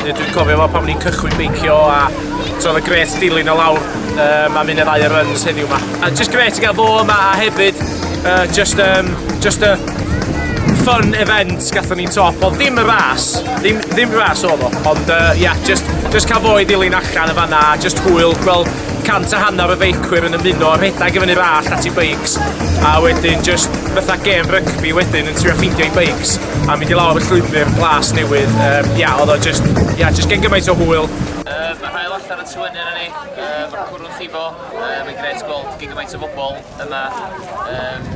Dwi'n cofio fo pan o'n i'n cychwyn beicio a so oedd y gret dilyn o lawr um, a mynd y ddau runs heddiw yma. A just gret i gael bo yma a hefyd uh, just, um, just a fun event gatho ni top. Oedd ddim y ras, ddim, ddim ras oedd o, ond ia, uh, yeah, just, just cael bo i dilyn allan y fanna a just hwyl gweld cant a hanner y feicwyr yn ymuno, rhedeg i fyny rall at i beics, a wedyn just fatha gêm rygbi wedyn yn trio ffeindio i beics. a mynd i lawr y llwybr glas newydd. Um, ia, oedd o just, ia, just gen gymaint o hwyl. Um, mae hael allan yn tywynu yna ni, um, mae'r cwrw'n llifo, um, mae'n gret gweld gen gymaint o bobl yma. Um,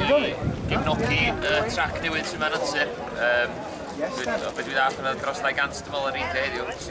dod i gefnogi uh, trac newydd sy'n ma'n antur. Um, Yes, Be dwi ddath yna dros 200 dymol yn reidio heddiw.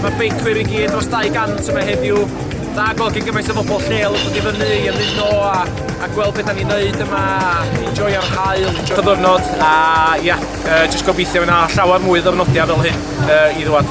Mae beicwyr i gyd dros 200 yma heddiw. Da gweld gen gymaint o bobl lleol yn dod i fyny i ymuno a, a gweld beth da ni'n neud yma, enjoy ar hael, enjoy ddiwrnod a ia, yeah, uh, just gobeithio yna llawer mwy ddyrnodia fel hyn uh, i ddwad.